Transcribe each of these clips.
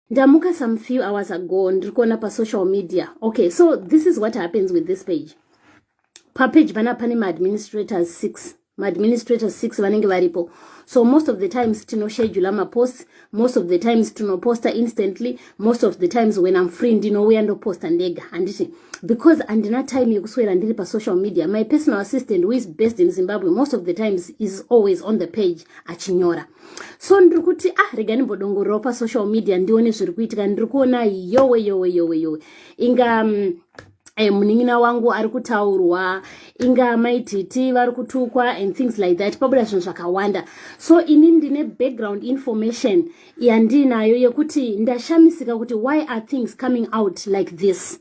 ndamuka some few hours ago ndiri kuona pasocial media okay so this is what happens with this page papage pana pane maadministrators six maadministrators six vanenge varipo so most of the times tinoshedula maposts most of the times tinoposta instantly most of the times when im free ndinouya ndoposta ndega handiti because handina time yekuswera ndiri pasocial media my personal assistant who is based in zimbabwe most of the times is always on the page achinyora so ndiri kuti ah rega ndimbodongorerawo pasocial media ndione zviri kuitika ndiri kuona yowe yowe yowe yowe inga mm, eh, munin'ina wangu ari kutaurwa inga mai titi vari kutukwa and things like that pabuda zvinhu zvakawanda so ini ndine background information yandiinayo yekuti ndashamisika kuti why are things coming out like this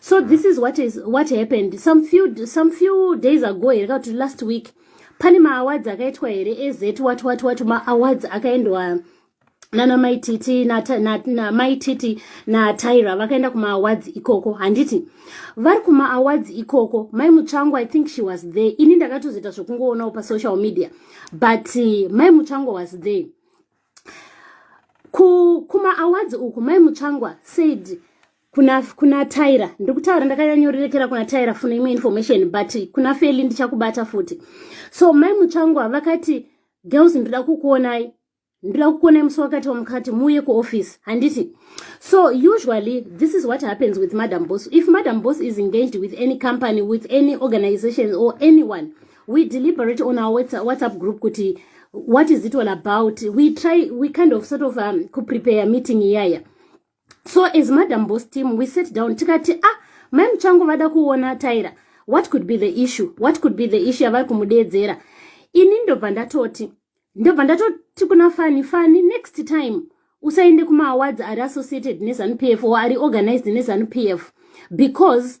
so this is what is what happened some few some few days ago here ka kuti last week pane maawards akaitwa here ez wat wat wat maawards akaendwa nana mai titi namai titi natyra vakaenda kumaawards ikoko handiti vari kumaawards ikoko mai mutsvango i think she was there ini ndakatozoita zvekungoonawo pasocial media but eh, mai mutsvango was there kumaawards uku mai mutsvangwa said kuna kuna Tyra ndiri kutaura ndakanyanyorerekera kuna Tyra funa imwe information but kuna Feli ndichakubata futi so mai Mutsvangwa vakati girls ndoda kukuonai ndoda kukuonai musi wakati wamukati muuye kuoffice handiti so usually this is what happens with madam boss if madam boss is engaged with any company with any organization or anyone we deliberate on our whatsapp group kuti what is it all about we try we kind of sort of um, kuprepare meeting iyaya yeah. so as madam boss team we sit down tikati a ah, mai muchangu vada kuona tyra what could be the issue what could be the issue yavari kumudeedzera ini ndobva ndatoti ndobva ndatoti kuna fani fani next time usaende kumaawards ari associated nezanu p f or ari organized nezanu p f because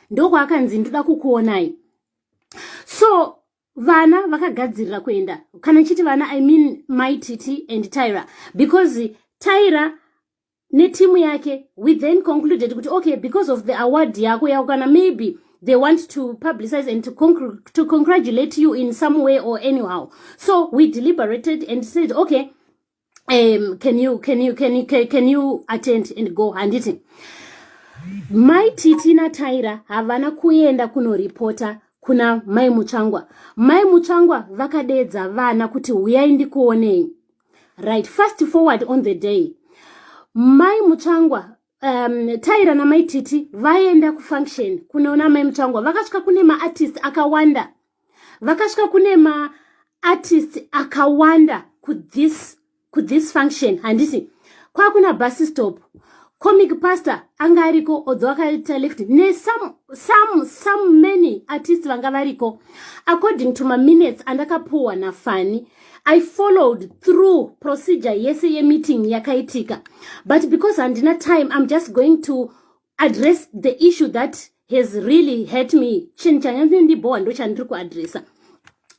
ndokwaakanzi ndoda kukuonai so vana vakagadzirira kuenda kana ndichiti vana i mean my titi and tyra because tyra netimu yake we then concluded kuti okay because of the award yako yako kana maybe they want to publicize and to, con to congratulate you in some way or anyhow so we deliberated and said okay um, can you can you can you can, can you attend and go handiti mai titi nataira havana kuenda kunoripota kuna mai mutsvangwa mai mutsvangwa vakadeedza vana kuti huyai ndikuonei right fast forward on the day mai mutsvangwa um, taira namai titi vaenda kufunction kunoona mai mutsvangwa vakasvika kune maartist akawanda vakasvika kune maartist akawanda kuthis kuthis function handiti kwakuna bus stop comic pastor anga ariko odho akaita left nesome some, some many artist vanga variko according to maminutes andakapuwa nafani i followed through procedure yese yemeeting yakaitika but because handina time i'm just going to address the issue that has really hurt me chinhu chanyandindibhowa ndo chandiri kuadressa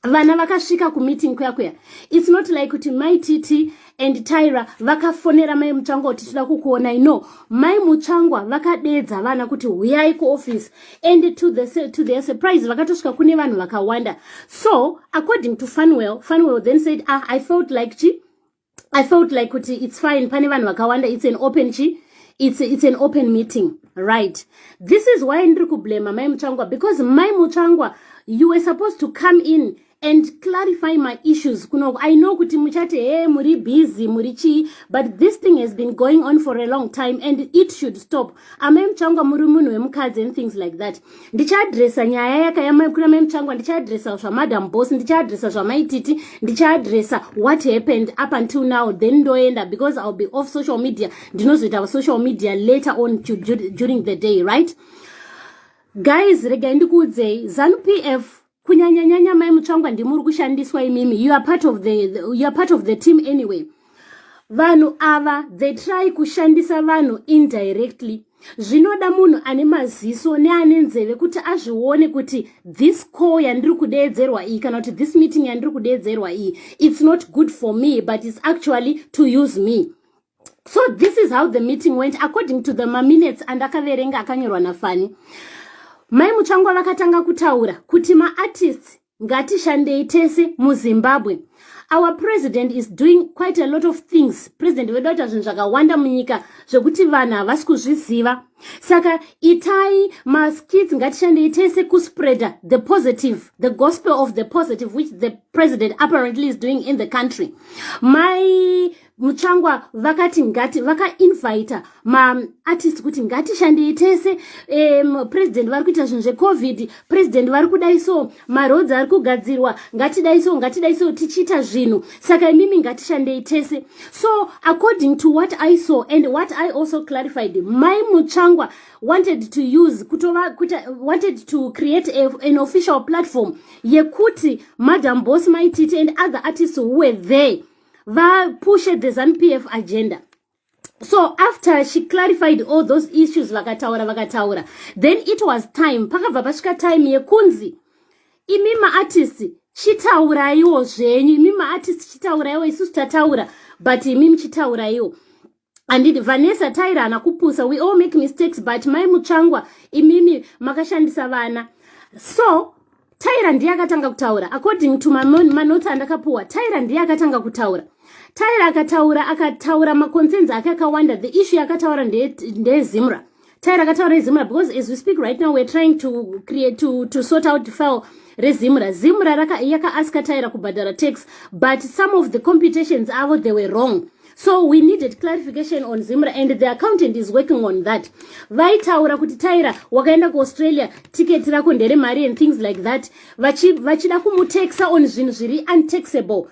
vana vakasvika kumeeting kuya kuya its not like kuti mai titi and tyra vakafonera mai mutsvangwa kuti tinoda kukuonai no mai mutsvangwa vakadeedza vana kuti huyai kuoffice and to, the, to their surprise vakatosvika kune vanhu vakawanda so according to funwell funwell then said ah, i felt like chi i felt like kuti it's fine pane vanhu vakawanda it's an open chi it's, it's an open meeting right this is why ndiri kublema mai mutsvangwa because mai mutsvangwa you were supposed to come in and clarify my issues kunoku i know kuti muchati he muri busy muri chii but this thing has been going on for a long time and it should stop amai muchangwa muri munhu wemukadzi and things like that ndichaadresa nyaya yakayamaikuna mai muchangwa ndichaadresa zvamadam boss ndichaadresa zvamaititi ndichaadresa what happened up until now then ndoenda because iwill be off social media ndinozoita social media later on during the day right guys regai ndikuudzei zanupf kunyanyanyanya mai mutsvangwa ndimi uri kushandiswa imimi you are part of the, the, you are part of the team anyway vanhu ava they try kushandisa vanhu indirectly zvinoda munhu ane maziso neane nzeve kuti azvione kuti this call yandiri kudeedzerwa iyi kana kuti this meeting yandiri kudeedzerwa iyi its not good for me but its actually to use me so this is how the meeting went according to the maminutes andakaverenga akanyorwa nafani mai mutsvangwa vakatanga kutaura kuti maartists ngatishandei tese muzimbabwe our president is doing quite a lot of things president vedu vaita zvinhu zvakawanda munyika zvekuti vanhu havasi kuzviziva saka itai maskits ngatishandei tese kuspreader the positive the gospel of the positive which the president apparently is doing in the country mai mutsvangwa vakati ngati vakainvita maartist kuti ngatishandei tese um, president vari kuita zvinhu zvecovid president vari kudai so maroads ari kugadzirwa ngatidai so ngatidai so tichiita zvinhu saka imimi ngatishandei tese so according to what i saw and what i also clarified mai mutsvangwa wanted to use kutova kuta, wanted to create a, an official platform yekuti madam boss maititi and other artists who were there vapushe the zanu p f agenda so after she clarified all those issues vakataura vakataura then it was time pakabva pasvika time yekunzi imi maartist chitauraiwo zvenyu imi maartist chitauraiwo isusu tataura but imi muchitauraiwo andidi vanessa tairana kupusa we all make mistakes but mai mutsvangwa imimi makashandisa vana so taira ndiye akatanga kutaura according to manoti andakapuwa taira ndiye akatanga kutaura taira akataura akataura maconcerns ake akawanda the issue yakataura ndeyezimra nde tai rakataura izimura because as we speak right now we're trying to create to, to sort out file rezimura zimura yakaaska taira kubhadhara tax but some of the computations avo they were wrong so we needed clarification on zimra and the accountant is working on that vaitaura kuti taira wakaenda kuaustralia ticket rako ndere mari and things like that vachida kumutexa on zvinhu zviri untaxable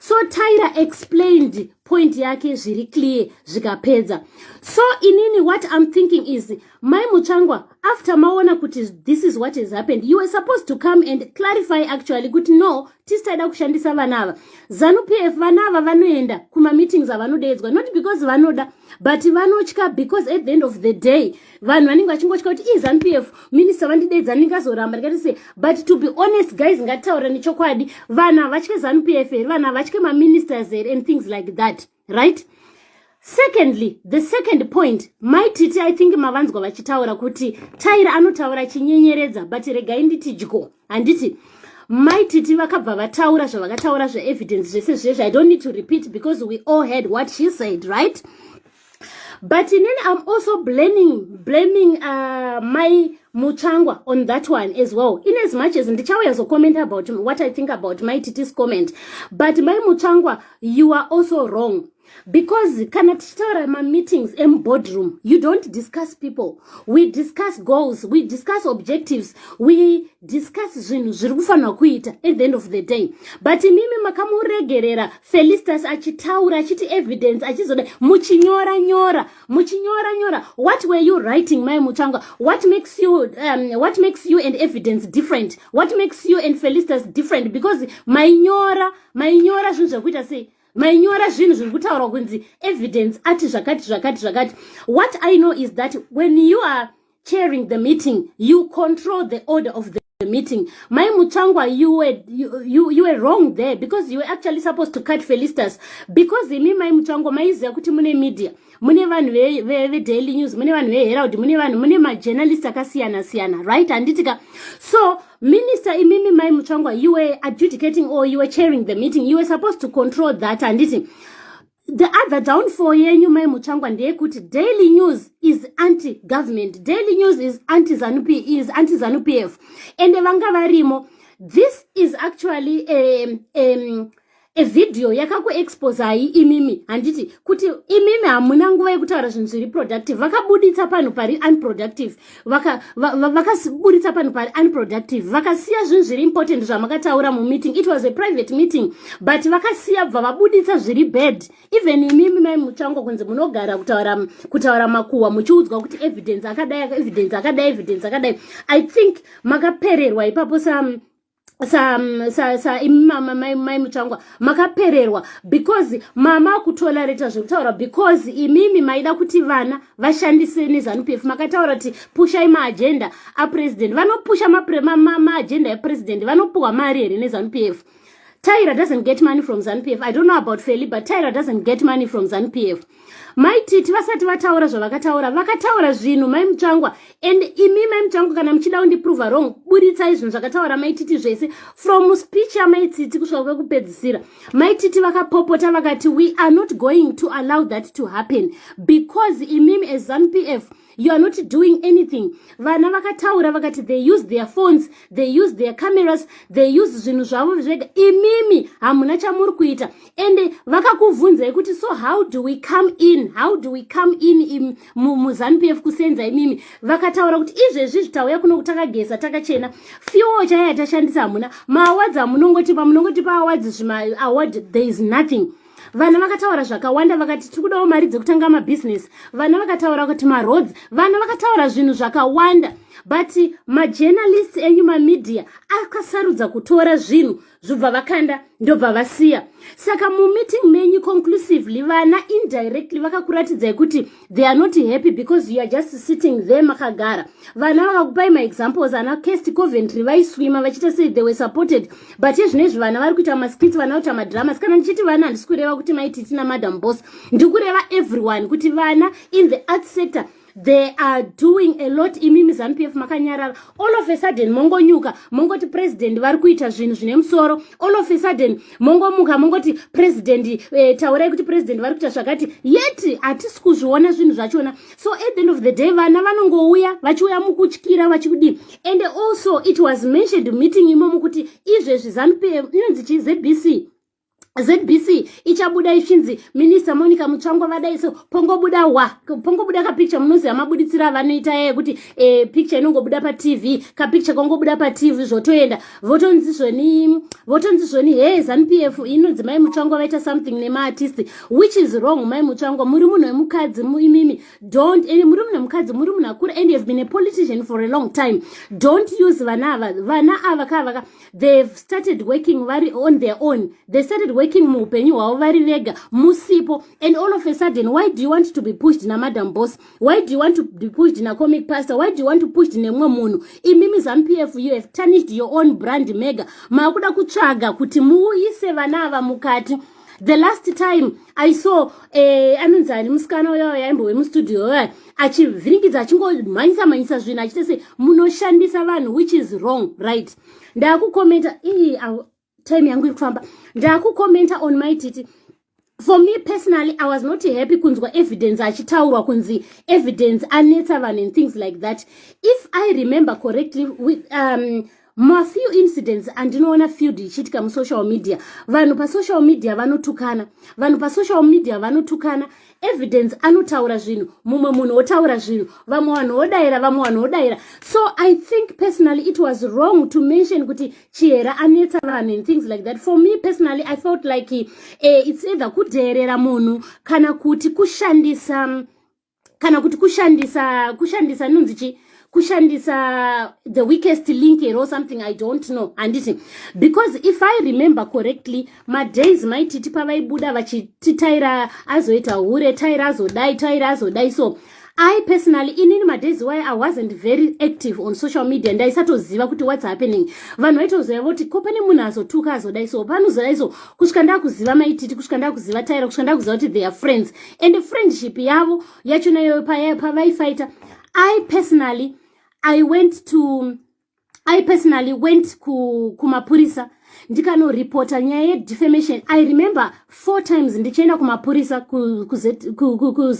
so tyra explained point yake zviri clear zvikapedza so inini what im thinking is mai mutsvangwa after maona kuti this is what has happened you were supposed to come and clarify actually kuti no tisisaida kushandisa vana ava zanu p f vana ava vanoenda kumameetings avanodeedzwa not because vanoda but vanotya because at the end of the day vanhu vanenge vachingotya kuti izanp f minista vandideidza ndinenge azoramba ndikati se but to be honest guys ngatitaura nechokwadi vanhu havatye zanp f here vanhu havatye maministers here and things like that right secondly the second point mai titi i think mavanzwa vachitaura kuti taira anotaura chinyenyeredza but regai nditi dyo handiti mai titi vakabva vataura zvavakataura zveevidence zvese zvezvi i don't need to repeat because we all heard what she said right but inini i'm also blaming blaming uh, my muchangwa on that one as well in as much as ndichauya zocomment about what i think about my titis comment but my muchangwa you are also wrong because kana tichitaura mameetings emubodroom you don't discuss people we discuss goals we discuss objectives we discuss zvinhu zviri kufanirwa kuita at the end of the day but imimi makamuregerera felistas achitaura achiti evidence achizoda muchinyora nyora muchinyora nyora what were you writing mai mutsvangwa what makes you um, what makes you and evidence different what makes you and felistas different because mainyora mainyora zvinhu zvekuita sei mainyora zvinhu zviri kutaurwa kunzi evidence ati zvakati zvakati zvakati what i know is that when you are chairing the meeting you control the order of the the meeting. My Muchangwa, you were you, you, you were wrong there because you were actually supposed to cut Felistas because imi mai Muchangwa maiziva kuti mune media mune vanhu vedaily news mune vanhu veherald mune vanhu mune majournalist akasiyana siyana right handitika so minister imimi mai Muchangwa, you were adjudicating or you were chairing the meeting you were supposed to control that handiti The other downfall yenyu mai Mutsvangwa ndeyekuti Daily News is anti government. Daily News is anti Zanu PF, is anti Zanu PF. And vanga varimo. This is actually a um, um, a video yakaku expose hai imimi handiti kuti imimi hamuna nguva yekutaura zvinhu zviri productive vakabuditsa panhu pari unproductive vakasiburitsa panhu pari unproductive vakasiya zvinhu zviri important zvamakataura mumeeting it was a private meeting but vakasiya bva vabuditsa zviri bad even imimi mai mutsvango kunzi munogara kutaura kutaura makuhwa muchiudzwa kuti evidence akadai evidence akadai evidence akadai i think makapererwa ipapo sa sa sa sa imi mama mai mai mutsvangwa makapererwa because mama akutolareta zvekutaura because imimi maida kuti vana vashandise nezanup f makataura kuti pushai maagenda apresident vanopusha maagenda epresident vanopuhwa mari here nezanup f tyra doesn't get money from zanup f i don't know about feli but tyra doesn't get money from zanup f mai titi vasati vataura zvavakataura vakataura zvinhu mai mutsvangwa and imi mai mutsvangwa kana muchida kundiprove wrong buritsai zvinhu zvakataura mai titi zvese from speech yamai titi kusvika kwekupedzisira mai titi vakapopota vakati we are not going to allow that to happen because imimi as zanupf you are not doing anything vana vakataura vakati they use their phones they use their cameras they use zvinhu zvavo zvega imimi hamuna chamuri kuita ende vakakuvhunzai kuti so how do we come in how do we come in muzanu p f kusenza imimi vakataura kuti izvezvi zvitauya kuno kutakageza takachena fuel chaiya tashandisa hamuna maawadzi amunongotipa munongotipa awadzi zvimaaward there is nothing vana vakataura zvakawanda vakati tiri kudawo mari dzekutanga mabhizinesi vana vakataura kuti maroads vana vakataura zvinhu zvakawanda but majournalist enyu mamedia akasarudza kutora zvinhu zvobva vakanda ndobva vasiya saka mumeeting menyu conclusively vana indirectly vakakuratidzai kuti they are not happy because you are just sitting there makagara vana vakakupai maexamples ana cast coventry vaiswima vachiita sei they were supported but yezvino izvi vana vari kuita maskits vana kuita madramas kana ndichiti vana handisi kureva kuti maiti tina madam boss ndikureva everyone kuti vana in the art sector they are doing a lot imi muzanupf makanyarara all of a sudden mongonyuka mongoti president vari kuita zvinhu zvine musoro all of a sudden mongomuka mongoti president eh, taurai kuti president vari kuita zvakati yet hatisi kuzviona zvinhu zvachona so at the end of the day vana vanongouya vachiuya mukutyira vachikudii and also it was mentioned meeting imomo kuti izvezvi zanp inonzi chi zbc zbc ichabuda ichinzi minista monica mutsvangwa vadai so pongobuda wa pongobuda kapicture munoziva mabuditsiro avanoita yekuti e, eh, picture inongobuda patv kapicture kongobuda patv zvotoenda votonzi zvoni votonzi zvoni hee zanu p f inonzi mai mutsvango vaita something nemaartist which is wrong mai mutsvango muri munhu wemukadzi imimi don't and muri munhu wemukadzi muri munhu akura and youhave been a politician for a long time don't use vana ava vana ava kaa vaka theyhave started working vari on their own they started working muupenyu hwavo vari vega musipo and all of a sudden why do you want to be pushed namadam boss why do you want to be pushed na comic pastor why do you want to pushed nemumwe munhu imimi zampf you have tarnished your own brand mega maakuda kutsvaga kuti muuyise vana ava mukati the last time i saw eh, anonzi ani musikana uya yaimbo wemustudio uya achivhiringidza achingomhanyisa mhanyisa zvinhu achite se munoshandisa vanhu which is wrong right ndaakukomenta ii time yangu iri kufamba ndakucomenta on my titi for me personally i was not happy kunzwa evidence achitaurwa kunzi evidence anetsa vanhu and things like that if i remember correctly with, um, mafew incidents andinoona field ichiitika musocial media vanhu pasocial media vanotukana vanhu pasocial media vanotukana evidence anotaura zvinhu mumwe munhu wotaura zvinhu vamwe vanhu wodaira vamwe vanhu wodaira so i think personally it was wrong to mention kuti chihera anetsa vanhu and things like that for me personally i felt like uh, it's either kudheerera munhu kana kuti kushandisa kana kuti kushandisa kushandisa nunzi chii kushandisa the weakest link here or something i don't know handiti because if i remember correctly madays maititi pavaibuda vachiti taira azoita hure taira azodai taira azodai so i personally inini madays why i wasn't very active on social media ndaisatoziva kuti what's happening vanhu vaitozoya voti ko pane munhu azotuka azodai so panozodai so kusvika ndakuziva maititi kusvika ndakuziva taira kusvika ndakuziva kuti they are friends and friendship yavo yacho nayo pavaifaita i personally i went to i personally went kumapurisa ku ndikanoreporta nyaya yedefamation i remember four times ndichienda kumapurisa kuzrp ku, ku, ku,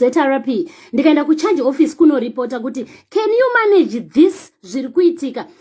ndikaenda kucharge office kunoreporta kuti can you manage this zviri kuitika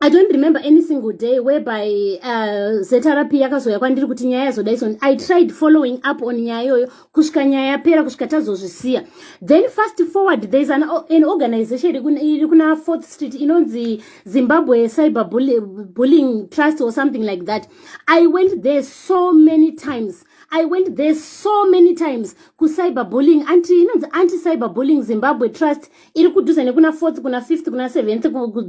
i don't remember any single day whereby uh, zrp yakazouya kwandiri kuti nyaya yazodaison i tried following up on nyaya iyoyo kusvika nyaya yapera kusvika tazozvisiya then fast forward thereis an, an organization iri kuna fourth street inonzi zimbabwe cyber bullying trust or something like that i went there so many times i went there so many times kucyber bullying anti inonzi anti cyber bullying zimbabwe trust iri kudhuze nekuna fourth kuna fifth kuna seventh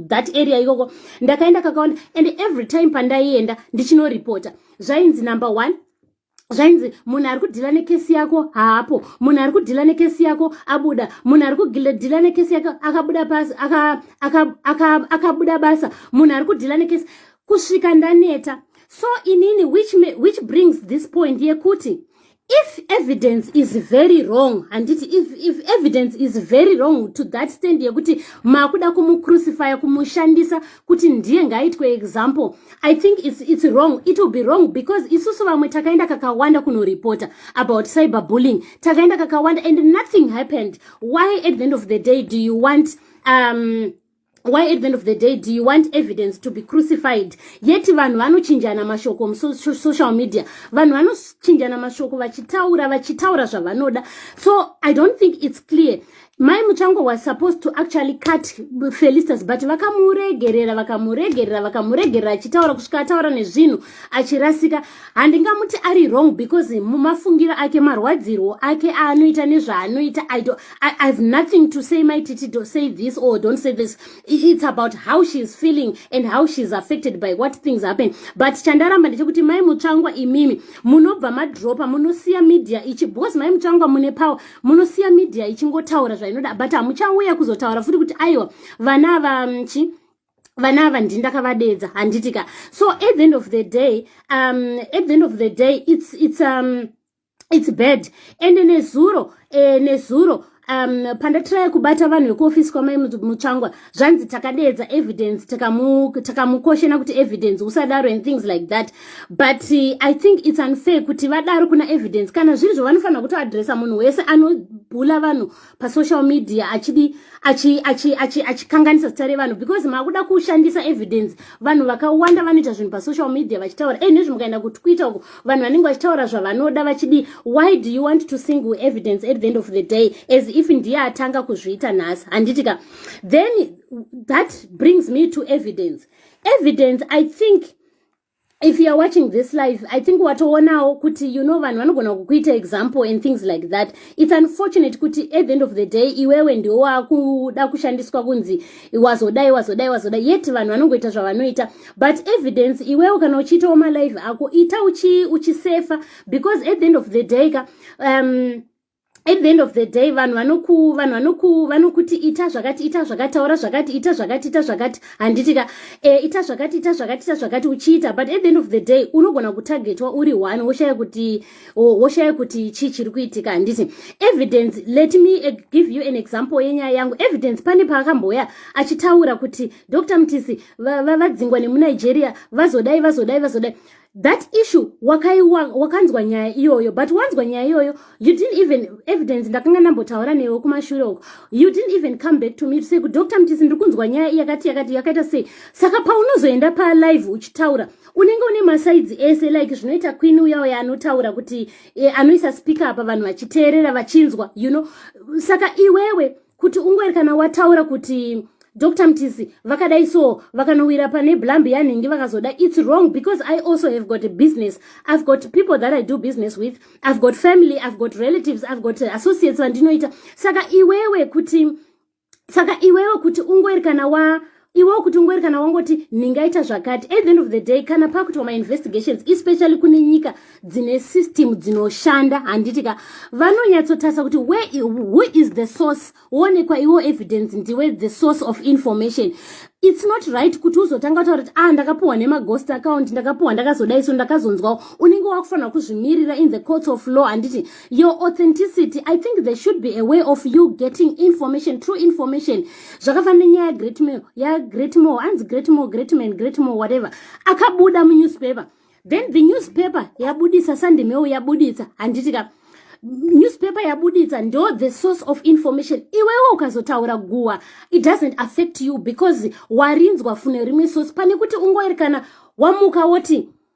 that area ikoko ndakaenda kakawanda and every time pandaienda ndichinoripota zvainzi number one zvainzi munhu ari kudhila nekesi yako haapo munhu ari kudhila nekesi yako abuda munhu ari kudhila nekesi yako akabuda basa akabuda basa munhu ari kudhila nekesi kusvika ndaneta so inini which, which brings this point yekuti if evidence is very wrong handiti if, if evidence is very wrong to that stand yekuti makuda kumucrucifya kumushandisa kuti ndiye ngaitwe example i think it's, it's wrong it will be wrong because isusu vamwe takaenda kakawanda kunoreporta about cyber bullying takaenda kakawanda and nothing happened why at the end of the day do you want um, why at the end of the day do you want evidence to be crucified yet vanhu vanochinjana mashoko musocial media vanhu vanochinjana mashoko vachitaura vachitaura zvavanoda so i don't think it's clear mai muchango was supposed to actually cut felistas but vakamuregerera vakamuregerera vakamuregerera achitaura kusvika ataura nezvinhu achirasika handingamuti ari wrong because mumafungiro ake marwadzirwo ake aanoita nezvaanoita i do I, have nothing to say my titi do say this or don't say this it's about how she is feeling and how she is affected by what things happen but chandaramba ndechekuti mai mutsvangwa imimi munobva madropa munosiya media ichi because mai mutsvangwa mune power munosiya media ichingotaura zvainoda but hamuchauya kuzotaura futi kuti aiwa vana vachi mm, vana ava ndini ndakavadeedza handiti ka so at the end of the day um, at the end of the day it's, it's, um, it's bad ende nezuro eh, nezuro um, pandatiraya kubata vanhu vekuofisi kwamai mutsvangwa zvanzi takadeedza evidence takamukoshena taka kuti evidence usadaro and things like that but uh, i think its unfair kuti vadaro kuna evidence kana zviri zvo vanofanira kutoadressa munhu wese anobhula vanhu pasocial media achidi achikanganisa zita revanhu because maakuda kushandisa evidence vanhu vakawanda vanoita zvinhu pasocial media vachitaura e eh, nezvi mukaenda kutwitter uko vanhu vanenge vachitaura zvavanoda vachidi why do you want to single evidence at the end of the day as if ndiye atanga kuzviita nhasi handiti ka then that brings me to evidence evidence i think if youare watching this life i think watoonawo kuti you know vanhu vanogona kukuita example and things like that its unfortunate kuti at the end of the day iwewe ndiwo wakuda kushandiswa kunzi wazodai wazodai wazodai yet vanhu vanongoita zvavanoita but evidence iwewe kana uchiitawo malive ako ita uchisefa uchi because at the end of the day ka um, at the end of the day vanhu vanoku vanhu vanoku vanokuti ita zvakati ita zvakati taura zvakati ita zvakati ita zvakati handiti ka e, ita zvakati ita zvakati ita zvakati uchiita but at the end of the day unogona kutargetwa uri one woshaya kuti woshaya kuti chii chiri kuitika handiti evidence let me eh, give you an example yenyaya yangu evidence pane paakambouya achitaura kuti dr mtisi vadzingwa va, va nemunigeria vazodai vazodai vazodai va that issue wakaiwa wakanzwa nyaya iyoyo but wanzwa nyaya iyoyo you didn't even evidence ndakanga ndambotaura newe kumashure uko you didn't even come back to me to say ku dr mtisi ndiri kunzwa nyaya iyakati yakati yakaita sei saka paunozoenda palive uchitaura unenge une masaidzi ese like zvinoita queen uya uya anotaura kuti eh, anoisa speaker apa vanhu vachiteerera vachinzwa you know saka iwewe kuti ungwari kana wataura kuti dr mtisi vakadai so vakanowira pane blambi yanhingi vakazoda its wrong because i also have got a business i've got people that i do business with i've got family i've got relatives i've got associates vandinoita saka iwewe kuti saka iwewe kuti ungwari kana wa iwewo kuti ungori kana wangoti ndingaita zvakati at the end of the day kana pakuitwa mainvestigations especially kune nyika dzine system dzinoshanda handiti ka vanonyatsotarisa kuti where who is the source woonekwa iwo evidence ndiwe the source of information it's not right kuti uzotanga kutaura kuti ah ndakapiwa nemaghost account ndakapiwa ndakazodai so ndakazonzwawo unenge wakufanira kuzvimirira in the courts of law handiti your authenticity i think there should be a way of you getting information true information zvakafanana nenyaya yagreatmore yagreatmore anzi greatmore greatman greatmore whatever akabuda munewspaper then the newspaper yabudisa sandimeo yabuditsa handiti ka newspaper yabuditsa ndo the source of information iwewe ukazotaura guwa it doesn't affect you because warinzwa fune rimwe source pane kuti ungoerekana wamuka woti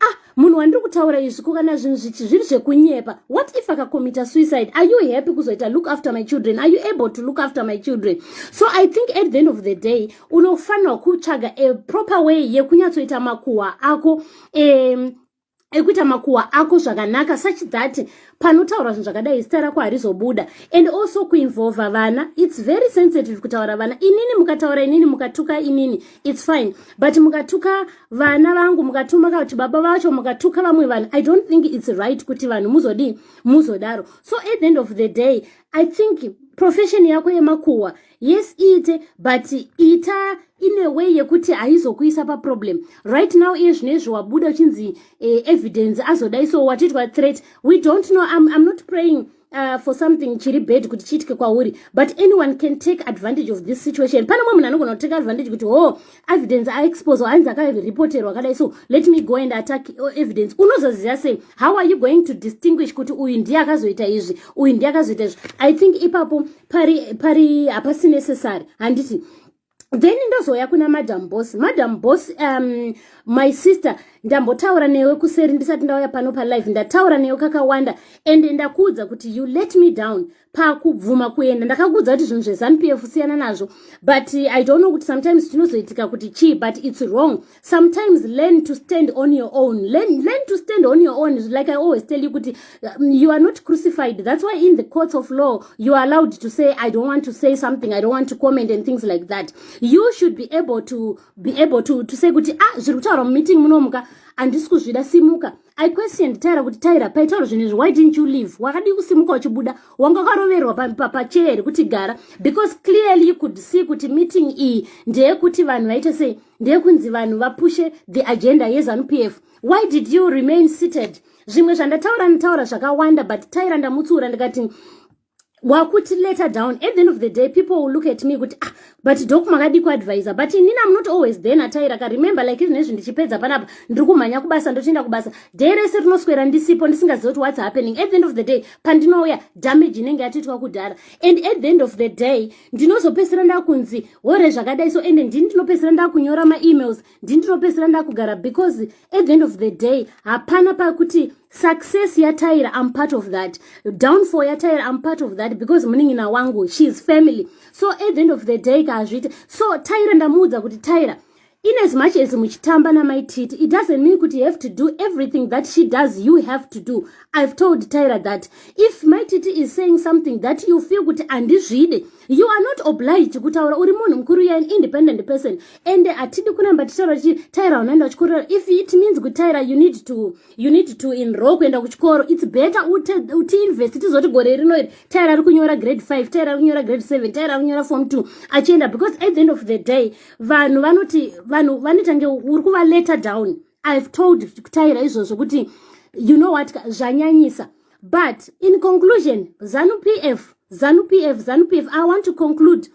ah munhu wandiri kutaura izvi ko kana zvinhu zvichi zviri zvekunyepa what if akakomita suicide are you happy kuzoita look after my children are you able to look after my children so i think at the end of the day unofanirwa kutsvaga a proper way yekunyatsoita makuhwa ako um, ekuita makuhwa ako zvakanaka such that panotaura zvinhu zvakadai zita rako harizobuda and also kuinvolva vana its very sensitive kutaura vana inini mukataura inini mukatuka inini its fine but mukatuka vana vangu mukatuma kuti baba vacho mukatuka vamwe vanhu i don't think its right kuti vanhu muzodii muzodaro so at the end of the day i think profession yako yemakuhwa yes iite but ita ine way yekuti haizokuisa paproblem right now iye zvino izvi wabuda uchinzi eh, evidence azodai so watiitwa threat we don't know I'm, i'm not praying Uh, for something chiri bad kuti chiitike kwauri but anyone can take advantage of this situation pane mwe munhu anogona kuteka advantage kuti ho oh, evidence aexpose ainzi akareporterwa akadai so let me go and attack uh, evidence unozoziva sei how are you going to distinguish kuti uyu ndiye akazoita izvi uyu ndiye akazoita izvi i think ipapo pari pari hapasi necessary handiti then ndozouya kuna madam boss madam boss um, my sister ndambotaura newe kuseri ndisati ndauya pano palive ndataura newe kakawanda and ndakuudza kuti you let me down pakubvuma kuenda ndakakuudza kuti zvinhu zvezanup f siyana nazvo but i don't know kuti sometimes tinozoitika kuti chii but its wrong sometimes learn to stand on your own learn, learn to stand on your own like i always tell you kuti um, you are not crucified that's why in the courts of law you are allowed to say i don't want to say something i don't want to comment and things like that you should be able to be able to, to say kuti ah zviri kutaura mumeeting munomuka handisi kuzvida simuka I questioned Tyra kuti Tyra paitaura zvinhu izvi why didn't you leave wakadii kusimuka uchibuda wanga wakaroverwa pachair here kuti gara because clearly you could see kuti meeting iyi ndeyekuti vanhu vaite sei ndeyekunzi vanhu vapushe the agenda yezanup f why did you remain seated zvimwe zvandataura ndataura zvakawanda but Tyra ndamutsiura ndikati wakuti letter down at the end of the day people will look at me kuti ah but dok makadi kuadvisa but inini am not always there natairaka remember like izvi nezvi ndichipedza panapa ndiri kumhanya kubasa ndotoenda kubasa day rese rinoswera ndisipo ndisingazivi kuti what's happening at the end of the day pandinouya damage inenge yatoitwa kudhara and at the end of the day ndinozopesera ndakunzi hore zvakadai so ende ndini ndinopesera ndakunyora maemails ndi ndinopedzisira ndakugara because at the end of the day hapana pakuti success yataira i'm part of that downfall yataira i'm part of that because munin'ina wangu she is family so at the end of the day kaazviite so taira ndamuudza kuti taira in as much as muchitamba namaititi it doesn't mean kuti you have to do everything that she does you have to do i've told taira that if maititi is saying something that you feel kuti andizvide you are not obliged kutaura uri munhu mukuru you're an independent person and hatidi kuramba tichitaura tichi tyra unoenda kuchikoro if it means kuti tyra you need to you need to enroll kuenda kuchikoro it's better utiinvest tizoti gore rino iri tyra ari kunyora grade 5 tyra ari kunyora grade 7 tyra ari kunyora form 2 achienda because at the end of the day vanhu vanoti vanhu vanotange uri kuva letter down i've told taira izvozvo kuti you know what zvanyanyisa but in conclusion zanu p f zanu p f zanu p f i want to conclude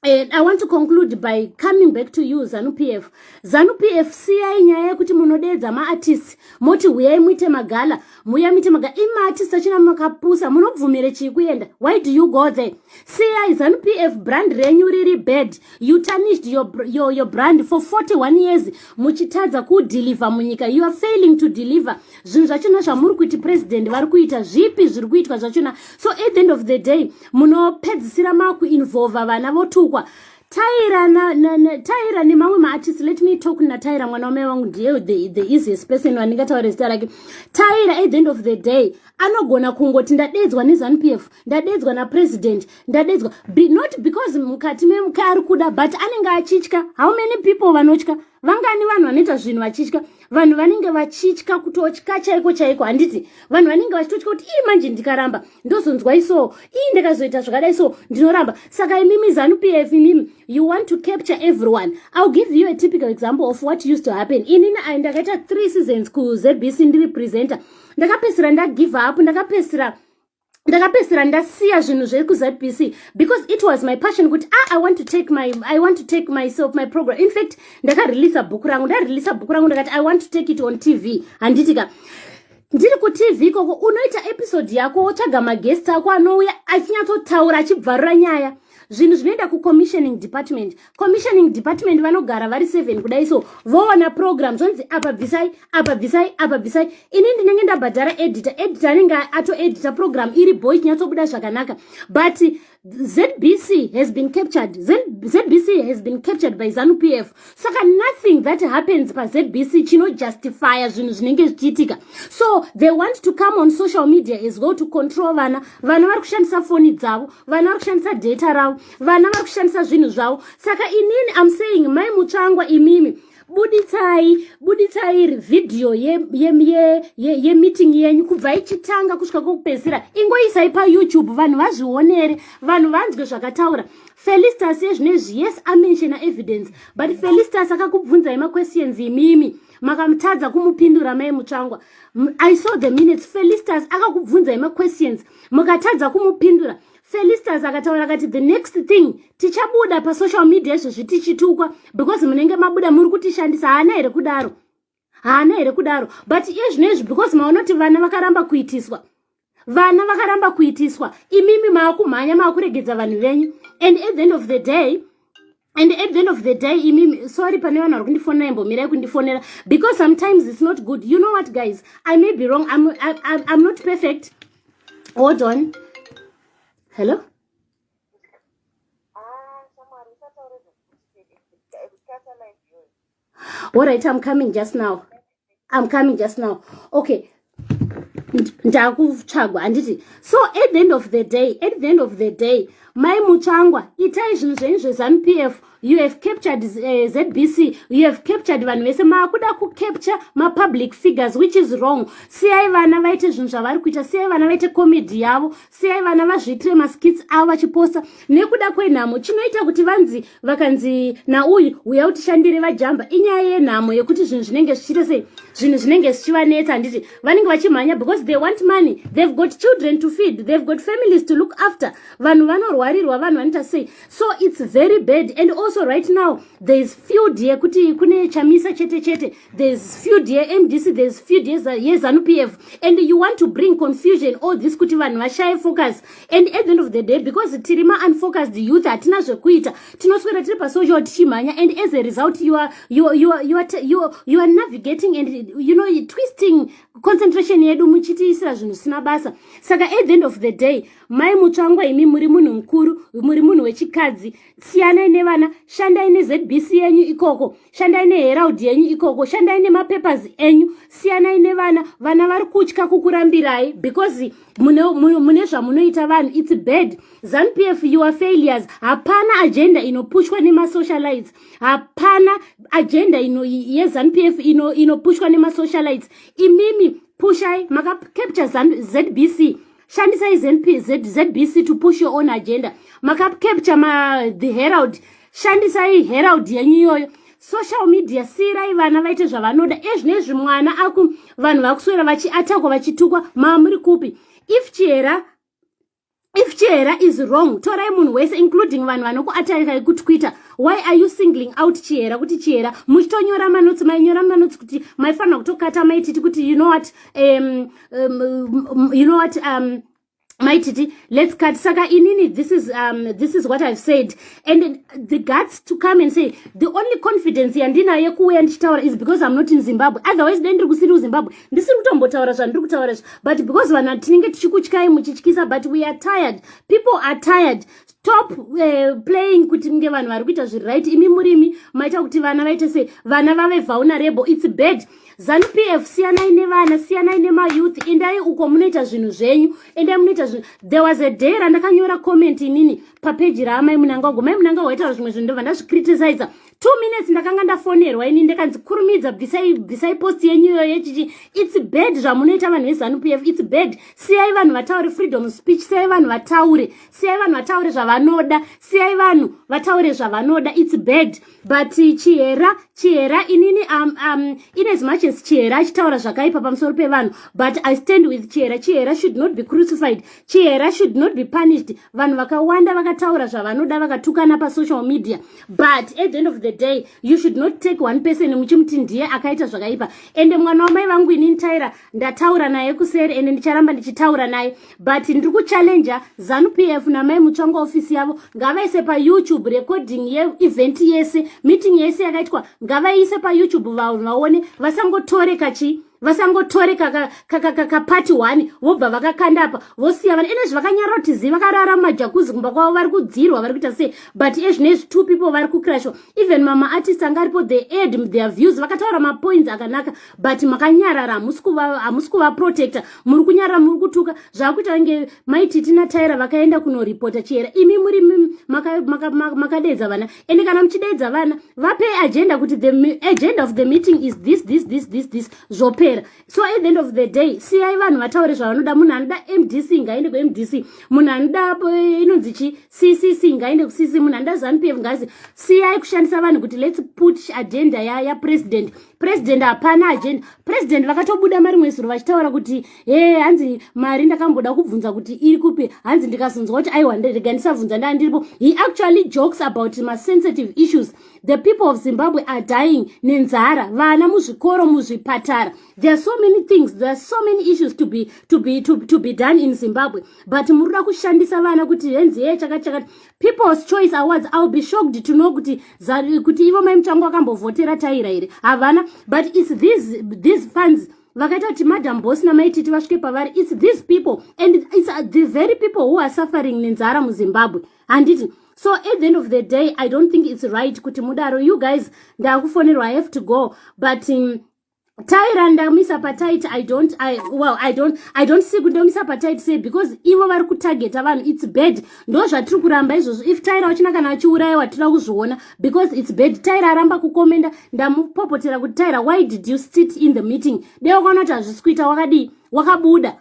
And I want to conclude by coming back to you Zanu PF. Zanu PF siyai nyaya yekuti munodeedza maartists moti huyai muite magala, muya muite magala. Imaartists achina makapusa munobvumire chii kuenda? Why do you go there? siyai zanu pf brand renyu riri bad you tarnished your, your, your brand for 41 years muchitadza kudeliver munyika you are failing to deliver zvinhu zvachona zvamuri kuti president vari kuita zvipi zviri kuitwa zvachona so at the end of the day munopedzisira makuinvolva vana votukwa taira na, na, na, taira nemamwe maartist let me talk nataira mwana wamai vangu ndiye the, the easiest person wandingataure zita rake taira at the end of the day anogona kungoti ndadeedzwa nezanup f ndadeedzwa napresident ndadeedzwa Be, not because mukati memuka ari kuda but anenge achitya how many people vanotya vangani vanhu vanoita zvinhu vachitya vanhu vanenge vachitya kutotya chaiko chaiko handiti vanhu vanenge vachitotya kuti ii manje ndikaramba ndozonzwa isoo ii ndikazoita zvakadai so ndinoramba saka imimi zanup f imimi you want to capture everyone ill give you a typical example of what used to happen inini ai ndakaita three seasons kuzbc ndiri presenter ndakapedzisira ndagive up ndakapedzisira ndakapedzisira ndasiya zvinhu zviri kuzbc because it was my passion kuti ah, i want to take my i want to take myself my program in fact ndakareleasa bhuku rangu ndareleasa bhuku rangu ndakati i want to take it on tv handiti ka ndiri kutv ikoko unoita episode yako wotsvaga maguest ako anouya achinyatsotaura achibvarura nyaya zvinhu zvinoenda kucommissioning department commissioning department vanogara vari seven kudai so voona program zvonzi apa bvisai apa bvisai apa bvisai ini ndinenge ndabhadhara editor editor anenge atoedita program iri boy ichinyatsobuda zvakanaka but zbc has been captured zbc has been captured by zanu p f saka nothing that happens pazbc chinojustifiya zvinhu zvinenge zvichiitika so they want to come on social media as well to control vana vana vari kushandisa foni dzavo vana vari kushandisa data ravo vana vari kushandisa zvinhu zvavo saka inini am saying mai mutsvangwa imimi buditsai buditsai iri vhidhiyo yemeeting ye, ye, ye, ye yenyu kubva ichitanga kusvika kwokupedzisira ingoisai payoutube vanhu vazvionere vanhu vanzwe zvakataura felistas yezvino izvi yes amenshena evidence but felistas akakubvunzai maquestions imimi makamutadza kumupindura mai mutsvangwa i saw the minutes felistas akakubvunzai maquestions mukatadza kumupindura felistas akataura kati the next thing tichabuda pasocial media izvozvi tichitukwa because munenge mabuda muri kutishandisa haana here kudaro haana here kudaro but iye zvino izvi because maonoti vana vakaramba kuitiswa vana vakaramba kuitiswa imimi maakumhanya maakuregedza vanhu venyu and at the end of the day and at the end of the day imimi sorry pane vanhu vari kundifonera imbomirai kundifonera because sometimes it's not good you know what guys i may be wrong i'm, I, I, I'm not perfect hold on hello all right i'm coming just now i'm coming just now okay ndakutsvagwa handiti so at the end of the day at the end of the day mai mutsvangwa itai zvinhu zvenyu zvezanup f you have captured uh, eh, zbc you have captured vanhu vese maakuda kucapture mapublic figures which is wrong siyai vana vaite zvinhu zvavari kuita siyai vana vaite comedy yavo siyai vana vazviitire maskits avo vachiposta nekuda kwenhamo chinoita kuti vanzi vakanzi nauyu uya utishandire vajamba inyaya yenhamo yekuti zvinhu zvinenge zvichiita sei zvinhu zvinenge zvichivanetsa handiti vanenge vachimhanya because they want money they've got children to feed they've got families to look after vanhu vanorwarirwa vanhu vanoita sei so it's very bad and also right now there is field yekuti kune chamisa chete chete there's few dear mdc there's few dear zanu pf and you want to bring confusion all this kuti vanhu vashaye focus and at the end of the day because tiri ma unfocused youth hatina zvekuita tinoswera tiri pasocial tichimhanya and as a result you are, you, you, you, are, you, you are navigating and you know twisting concentration yedu muchitiisira zvinhu zvisina basa saka at the end of the day mai mutsvangwa imi muri munhu mukuru muri munhu wechikadzi siyanai nevana shandai nezbc yenyu ikoko shandai neherald yenyu ikoko shandai nemapapers enyu siyanai nevana vana vari kutya kukurambirai because mune, mune, mune zvamunoita vanhu its bad zanupf your failures hapana agenda inopushwa nemasocialites hapana agenda ino yezanupf ino, inopushwa nemasocialites imimi pushai makacapture zbc shandisai zbc to push your own agenda makacapture ma the herald shandisai herald yenyu iyoyo social media siirai vana vaite zvavanoda ezvino izvi mwana aku vanhu vakuswera vachiatakwa vachitukwa mamuri kupi if chihera if chihera is wrong torai munhu wese including vanhu vanokuatarirai kutwitter why are you singling out chihera kuti chihera muchitonyora manotsi mainyora manotsi kuti maifanira kutokata maititi kuti you know what um, um, um, you know what um, maititi let's cut saka inini this is um, this is what i've said and the guts to come and say the only confidence yandinayo yekuuya ndichitaura is because i'm not in zimbabwe otherwise dai ndiri kusiri kuzimbabwe ndisiri kutombotaura zvandiri kutaura zvi but because vanhu tinenge tichikutyai muchityisa but we are tired people are tired stop uh, playing kuti nge vanhu vari kuita zviri right imi murimi maita kuti vana vaite se vana vave vulnerable its bad zanu pf siyanai nevana siyanai nemayouth endai uko munoita zvinhu zvenyu endai munoita zvinhu there was a day randakanyora comment inini papeji raamai munangagwa mai munangagwa aitaura zvimwe zvinhu ndobva ndazvicritiziza two minutes ndakanga ndafonerwa ini ndikanzi kurumidza bvisai bvisai post yenyu iyoyo yechichi its bad zvamunoita vanhu vezanu pf its bad siyai vanhu vataure freedom speech siyai vanhu vataure siyai vanhu vataure zvavanoda siyai vanhu vataure zvavanoda its bad but chihera chihera inini um, um, in as much as chihera achitaura zvakaipa pamusoro pevanhu but i stand with chihera chihera should not be crucified chihera should not be punished vanhu vakawanda vakataura zvavanoda vakatukana pasocial media but at the end of the day you should not take one person muchimuti ndiye akaita zvakaipa ende mwana wamai vangu inini taira ndataura naye kuseri ende ndicharamba ndichitaura naye but ndiri kuchallenger zanu p f namai mutsvanga ofisi yavo ngavaise payoutube recording yeevent yese meeting yese yakaitwa ngavaise payoutube vanhu vaone vasangotore kachi vasangotore kakapati one vobva vakakanda apa vosiya vana ene zvivakanyara kuti zii vakarara mumajakuzi kumba kwavo vari kudzirwa vari kuita sei but ezvine izvi two people vari kucrashwa even mama artist anga aripo the aid their views vakataura mapoints akanaka but makanyarara hamusi kuvaprotecta muri kunyarara muri kutuka zvakuita vange maititi nataira vakaenda kunoripota chihera imi muri makadeedza vana ende kana muchideedza vana vape agenda kuti the agenda of the meeting is this this this this this zvopera so at the end of the day siyai vanhu vataure zvavanoda munhu anoda mdc ngaende kumdc munhu anoda eh, inonzi chi ccc ngaende kucc munhu anoda zanupf ngazi siyai kushandisa vanhu kuti lets put agenda yapresident president hapana agenda president vakatobuda mari mwe zuro vachitaura kuti he hanzi mari ndakamboda kubvunza kuti iri kupi hanzi ndikazonzwa kuti aiwa rega ndisabvunza ndaa ndiripo he actually jokes about masensitive issues the people of zimbabwe are dying nenzara vana muzvikoro muzvipatara there are so many things there are so many issues to be, to be, to, to be done in zimbabwe but muri kuda kushandisa vana kuti henzi hee chakati chakati people's choice awards ill be shocked to know kuti kuti ivo mai muchango vakambovhotera taira here havana but its these, these funds vakaita kuti madam boss namai titi vasvike pavari its these people and its uh, the very people who are suffering nenzara muzimbabwe handiti so at the end of the day i don't think its right kuti mudaro you guys ndakufonerwa i have to go but um, taira ndamisa patit i don't i well i don't i don't see kuti ndomisa patit sei because ivo vari kutargeta vanhu its bad ndo zvatiri kuramba izvozvo if taira uchina kana achiurayiwa tira kuzviona because its bad taira aramba kukomenda ndamupopotera kuti taira why did you sit in the meeting dei wakaona kuti hazvisi kuita wakadii wakabuda